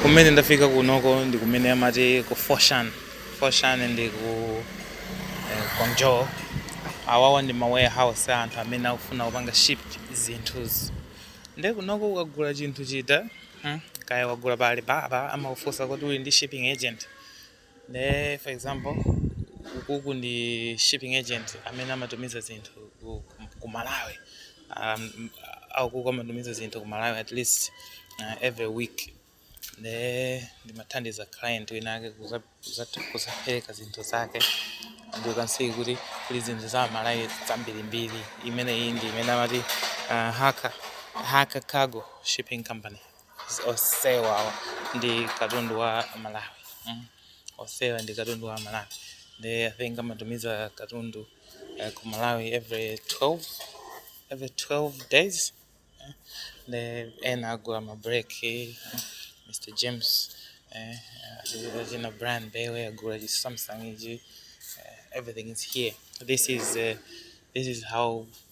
Kumene ndafika kunoko ndi kumene amati ku Foshan. Foshan ndi ku eh, Guangzhou. Awawa ndi ma warehouse a anthu amene akufuna kupanga ship zinthuzi. Nde kunoko ukagula chinthu chita hmm, kaya wagula pa Alibaba amakufunsa kuti uli ndi shipping agent. nde for example ukuku ndi shipping agent amene amatumiza zinthu ku, ku malawi um, akuku amatumiza zinthu ku malawi at least uh, every week nde ndimam'thandiza client winawake kuza- kuza- kuzapereka zinthu zake and you can see kuti kuli zinthu za malawi zambirimbiri imene iyi ndi imene amati uh, haka haka cargo shipping company Osewa awa ndi katundu wa Malawi. Mm. Osewa ndi katundu wa Malawi. They I think amatumiza katundu uh, ku Malawi every 12 every 12 days. Eh, The ena agula ma break eh, Mr James eh, uh, zina brand bewe agula chi Samsung ichi. Uh, everything is here. This is uh, this is how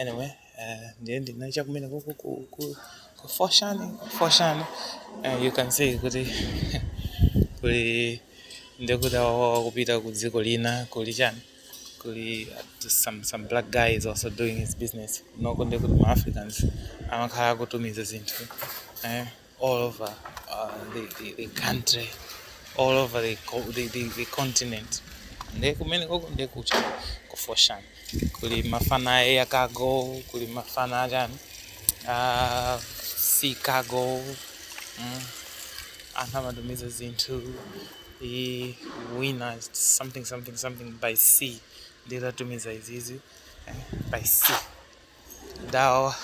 anyway eh, ndiye ndinacha kumene kuku ku- ku- ku Foshan ku Foshan Eh, you can see kuti kuli ndikuti awawa kupita ku dziko lina kuli chani kuli uh, some, some black guy is also doing his business kunoko ndikuti ma africans amakhala akutumiza zinthu eh, all over uh, the, the, the country all over the, co- the, the, the continent nde kumene koko nde kucha ku Foshan kuli mafana a air cargo kuli mafana achani a sea cargo mm. anthu amatumiza zinthu i- Winner something something something by sea nditatumiza izizi eh, by sea Adawa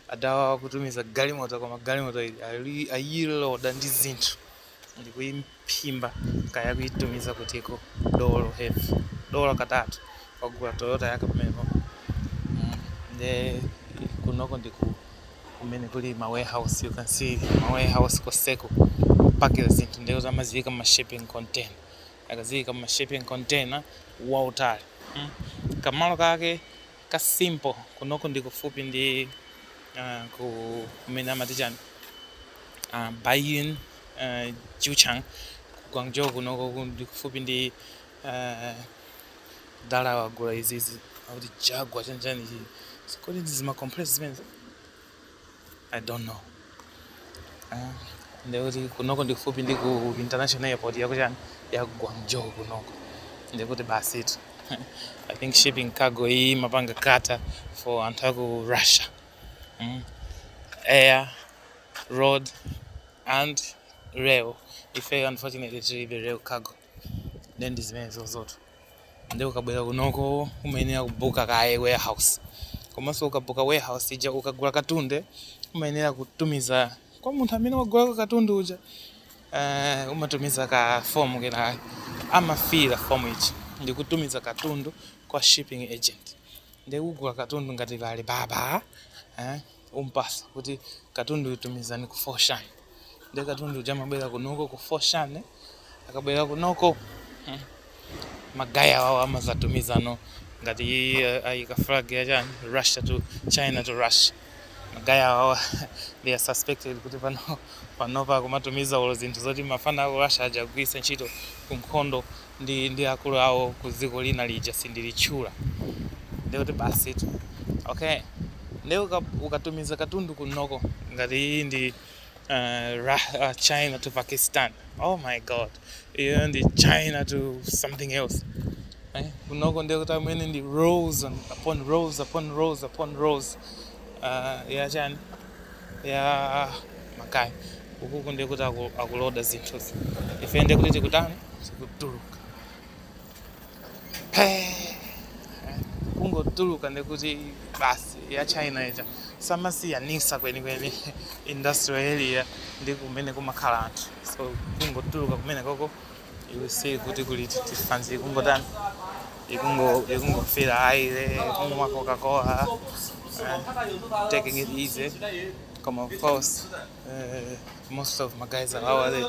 adawa akutumiza galimoto koma galimoto ili ali- ayiloda ndi zinthu ndikuiphimba kaya kuitumiza kutiko dolo heavy dolo katatu wagula toyota yake pamenepo Mm, nde kunoko ndi ku kumene kuli ma warehouse you can see ma warehouse koseko kupakira zinthu nde kuti amaziika mu ma shipping container akaziika mu shipping container waitali Mm. kamalo kake ka simple kunoko ndi kufupi ndi uh, ku kumene amati chani uh, Baiyun uh, Jiuchang ku Guangzhou kunoko ku- ndi kufupi ndi uh, adalawa agula izizi akuti Jaguar chanichani izi kodi ndi zima compressor zimenezi I don't know. Ah, ndekuti kunoko ndi kufupi ndi ku international airport yakuchani ya Guangzhou kunoko. Ndekuti basi itu. I think shipping cargo iyi imapanga cater for anthu aku Russia. Mm. Air, road and rail. Ife unfortunately tilibe rail cargo. nde ndi zimenezozotu nde ukabwera kunoko umayenera kubuka kaye warehouse komanso ukabuka warehouse ija ukagula katundu umayenera kutumiza kwa munthu amene wagulako katundu uja eh, umatumiza ka fomu kena amafila fomu ija ndikutumiza katundu kwa shipping agent Nde kugula katundu ngati ku Alibaba eh umpasa kuti katundu uyu tumizani ku Foshan nde katundu uja amabwera kunoko ku Foshan akabwera kunoko hmm, magaya awawo amadzatumizano ngati uh, ayika flag ya chani Russia to China to Russia magaya awawa they are suspected kuti pano panopa akumatumiza olo zinthu zoti mafana aku Russia akagwiritse ntchito ku nkhondo ndi ndi akulu awo ku dziko lina lija sindilitchula nde kuti basitu okay nde uka, ukatumiza katundu kunoko ngati iyi ndi uh, Ra- uh, china to pakistan oh my god iyo ndi china to something else eh? kunoko nde kuti amene ndi rows on- upon rows upon rows upon rows uh, ya chani Ya ma kay ukuku ndiye kuti aku- akuloda zinthuzi ife ndiye kuti tikutani tikutuluka kungotuluka ndiye kuti basi ya china ija samasiyanisa kwenikweni industrial area ndi kumene kumakhala anthu so kungotuluka kumene koko iwe si kuti kuli tifanzi ikungotani ikungo ikungofira aire kungoma coca cola uh, taking it easy come of course uh, most of my guys are our they,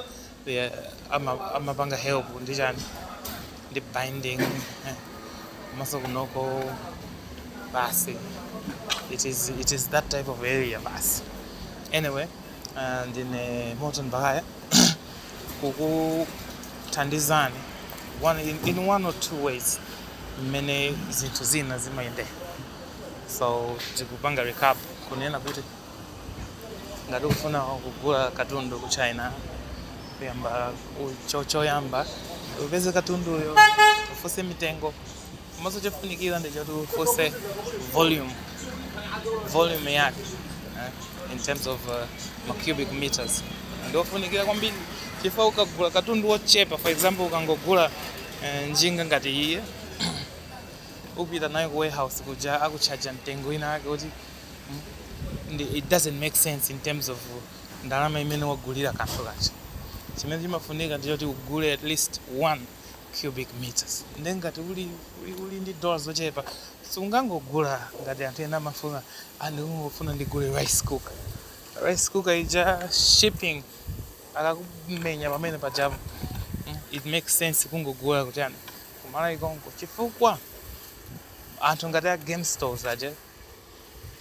they are, I'm a, I'm a banga help ndi chani ndi binding eh, maso kunoko basi it is it is that type of area basi anyway uh, ndine Morton Bahaya kukuthandizani one, in, in one or two ways mmene zinthu zina zimayendera so tikupanga recap kunena kuti ngati ukufuna kugula katundu ku china kuyamba ku- cho- choyamba upeze katunduyo ufunse mitengo komanso chofunikira ndi choti ufunse volume volume yake eh, in terms of uh, ma cubic meters ndiofunikira kwambiri chifukwa ukagula katundu wochepa for example ukangogula eh, njinga ngati iyi upita nayo ku warehouse kuja akutchaja mtengo wina wake kuti mm, ndi- it doesn't make sense in terms of ndalama imene wagulira kanthu kaja chimene chimafunika ndichoti ugule at least one cubic meters nde ngati uli uli uli ndi dola zochepa sungangogula ngati anthu ena amafuna ah ndikungofuna ndigule rice cooker rice cooker ija shipping akakumenya pamene pajapo mm, it makes sense kungogula kutiyani ku Malawi konko chifukwa anthu ngati a game stores aja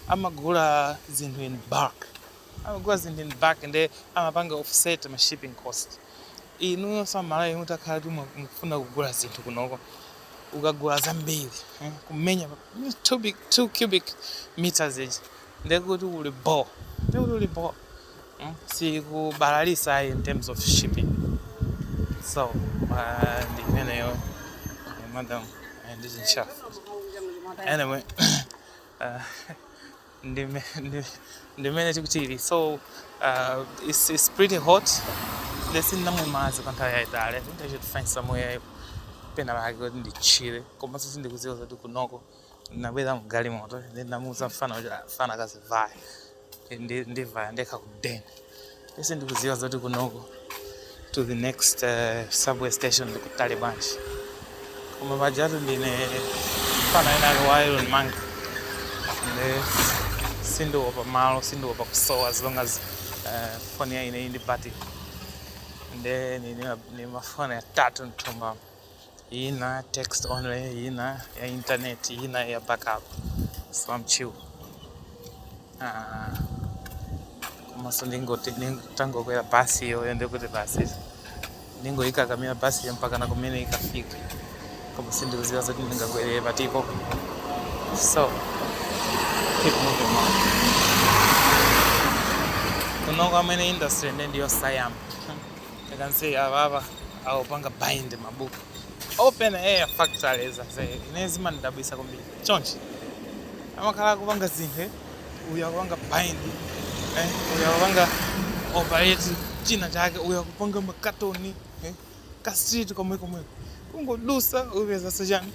amagula zinthu in bulk amagula zinthu in bulk nde amapanga offset ma shipping cost. Inuyonso a Malawi mutakhala kuti mukufuna kugula zinthu kunoko, ukagula zambiri kumenya 2 cubic meters ija nde kuti uli bho, nde kuti uli bho. Sikubalalitsa ayi in terms of shipping. So ndi imeneyo madam, ndi chinchafu anyway. ndi mmene tikuchilira so uh, it's, it's pretty hot ndiye sindinamwe madzi kwa nthawi yayitali i think i should find somewhere pena pake kuti ndichire komanso sindikudziwa zoti kunoko ndinabwera mgali moto then ndamuuza mfana kuti "Ah, mfana akazivaya ndivaya ndekha kudeni nde sindikuziwa zoti kunoko to the next uh, subway station ndikutali bwanji koma pajatu ndine mfana wina wake wa iron man nde sindiopa malo sindiopa kusowa as long as uh, foni ya ine ili ndi battery nde ndili ndi mafoni atatu mthumbamu ina text only ina ya internet ina ya backup so I'm chill ah komanso nditangokwera basi iyoyo ndekuti basi ndingoyikakamira basi iyo mpaka na kumene ikafika koma sindikuziwa zoti ndingakwerere patipo so keep moving on kunoko kwa ma industry nde ndiyosayamba You can see apapa akupanga bind mabuku open air factories ase ine zimandidabwisa kwambiri chonchi amakhala akupanga zinthu eh? uyu akupanga bind eh? uyu akupanga operate china chake uyu akupanga makatoni eh? ka street komwe komwe kungodusa upeza zachani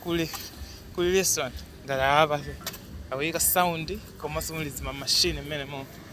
kuli kuli restaurant ngati apa akuyika sound komanso muli zima machine mmenemo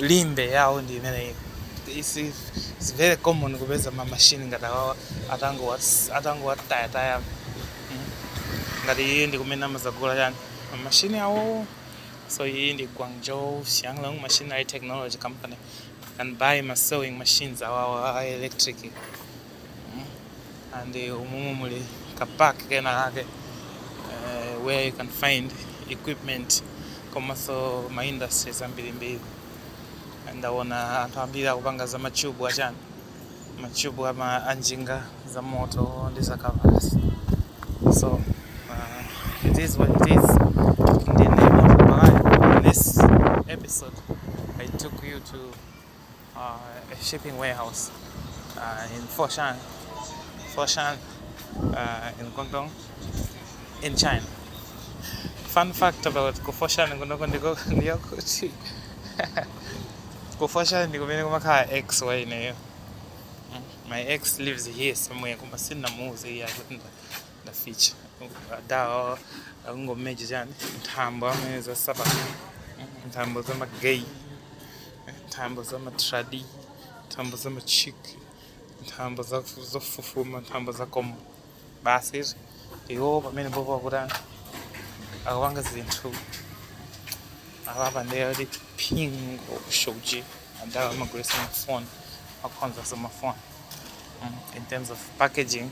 Limbe yawo ndi imeneyi. It's, it's very common kupeza ma machine ngati awawa atangowatayataya mm. ngati iyi ndi kumene amazagula chani ma machine awowo so iyi ndi Guangzhou Xianglong Machinery Technology Company can buy ma sewing machines awawa a electric mm. and uh, umumu muli ka park kena kake uh, where you can find equipment komanso ma industries ambirimbiri ndawona anthu ambiri akupanga za machubu achani machubu ama anjinga za moto ndi za ma kavasi so uh, it is what it is ndine mapalayo in this episode i took you to shipping warehouse uh, in Foshan, Foshan uh, in Guangdong, in China. Fun fact about Foshan in Guangdong ndiko ndiyo kuti Foshan ndi kumene kumakhala ex wa ineyo. My ex lives here somewhere koma sinamuuze iye kuti Daficha. Adawa akungomenya chani nthambo amene zasapa nthambo za magay nthambo za matradi nthambo za machik nthambo za- zofufuma nthambo za komo basi izo iwo pamenepopo akutani akupanga zinthu apapa ndiye kuti pingo shoji adawa amagulisa mafoni akonzaso mafoni Mm, in terms of packaging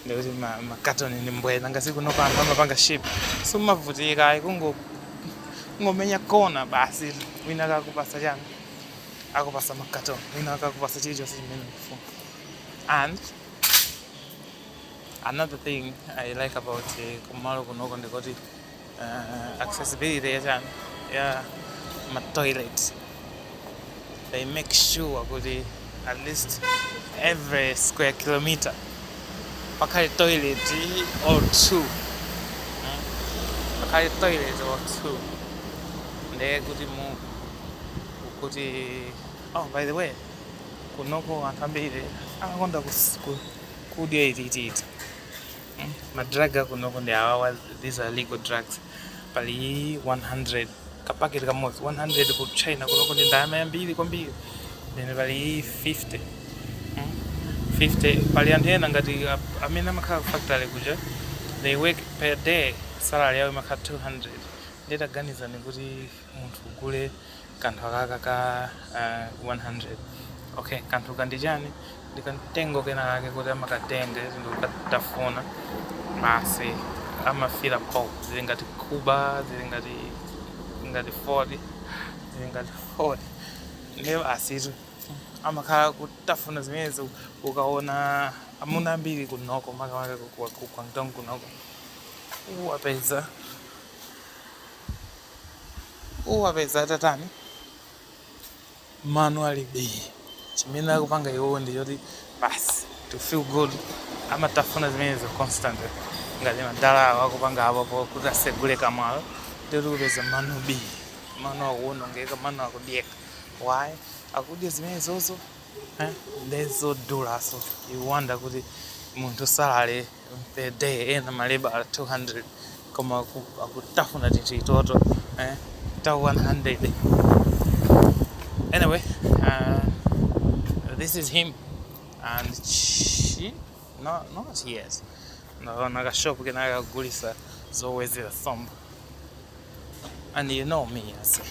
ndikuti ma- makatoni ndi mbweza ngati kunoko anthu amapanga ship simumavutika ayi kungo- kungomenya kona basi wina akakupasa chani akupasa makatoni wina akakupasa chilichonse chimene ufuna and another thing i like about eh, kumalo kunoko ndikuti uh, accessibility ya chani ya ma toilets they make sure kuti at least every square kilometer pakhale toilet or two Mm. pakhale toilet or two ndiye kuti mu kuti oh by the way kunoko anthu ambiri amakonda kus- ku- kudya itititi Ma drug akunoko ndi awawa, these are legal drugs. Pali 100 ka packet kamodzi 100 ku China kunoko ndi ndalama yambiri kwambiri. Then pali 50 mm, 50 pali anthu ena ngati ap- amene amakhala ku factory kuja they work per day salary yawo imakhala 200 ndiye taganizani kuti munthu ugule kanthu akaka ka uh, 100 okay kanthuka ndi chani ndi kamtengo kena kake kuti amakatenga izi ndikukatafuna basi amafila bho zili ngati khuba zili ngati ngati fodya zili ngati fodya ndiye basitu amakhala kutafuna zimenezi ukaona amuna ambiri kunoko makamaka ku Guangdong kunoko uwapeza uwapeza atatani mano ali bii chimene akupanga iwowo ndi choti basi to feel good amatafuna zimenezo constantly ngati madala awo akupanga apopo kuti asegule kamwalo ndikuti kupeza mano bii mano akuwonongeka mano akudyeka why akudya zimenezozo eh? nde zodula so you wonder kuti munthu salary the day ena maleba 200 koma aku- akutafuna tititoto eh, ta 100 anyway uh, this is him and she no, not yet naona kashopu kenakagulisa zowezera sombo and you know me ase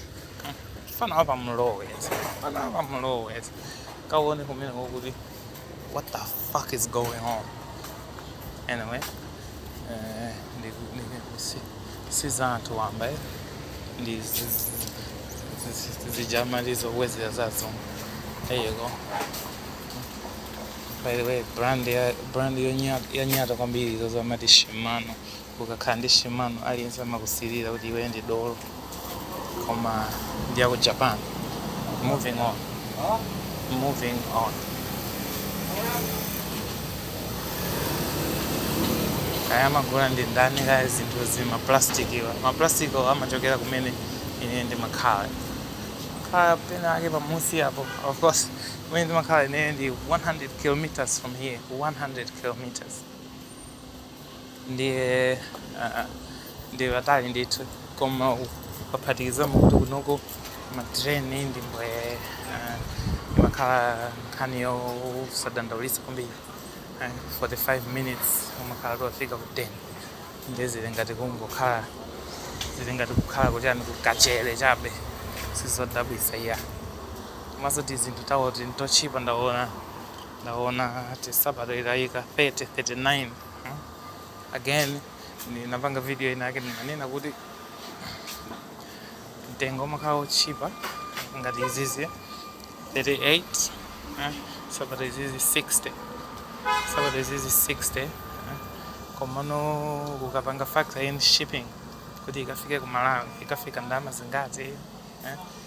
fana wapa mlowe ase fana wapa mlowe ase kawone kumene kuti what the fuck is going on anyway eh, ndi- ndi- si- si za anthu wamba eh. ndi zi- zi- zi- zi- zijamali zowezera za nsomba there you go by the way brand ya brand yonyata yonyata kwambiri izozo amati Shimano Ukakhala ndi Shimano aliyense amakusilira kuti iweyo ndi dolo koma ndi yaku Japan. Moving on. Kaya amagula ndi ndani kaya zinthuzi ma plastic awa. Ma plastic awa amachokera kumene ine ndimakhala. Kaya pena ake pamusi apo. Of course, kumene ndimakhala ine ndi 100 kilometers from here. 100 kilometers. ndiye ah, ah, ndi patali ndithu koma ukaphatikizamo kuti kunoko matreni ndi mbwe ah, imakhala nkhani yosadandaulitsa kwambiri Eh, 45 minutes umakhala tofika ku town ndiye zili ngati kungokhala zili ngati kukhala kuti ani kukachere chabe sizodabwitsa iya komanso tizinthu tawoti n'totchipa ndaona ndaona nsapato ataika 30 39 hmm? again ndinapanga video inayake ndinanena kuti mtengo umakhala wotchipa ngati izizi 38 hmm? nsapato izizi 60 nsapato izizi 60 hmm? komano ukapanga factor in shipping kuti ikafike ku malawi ikafika ndalama zingati eh?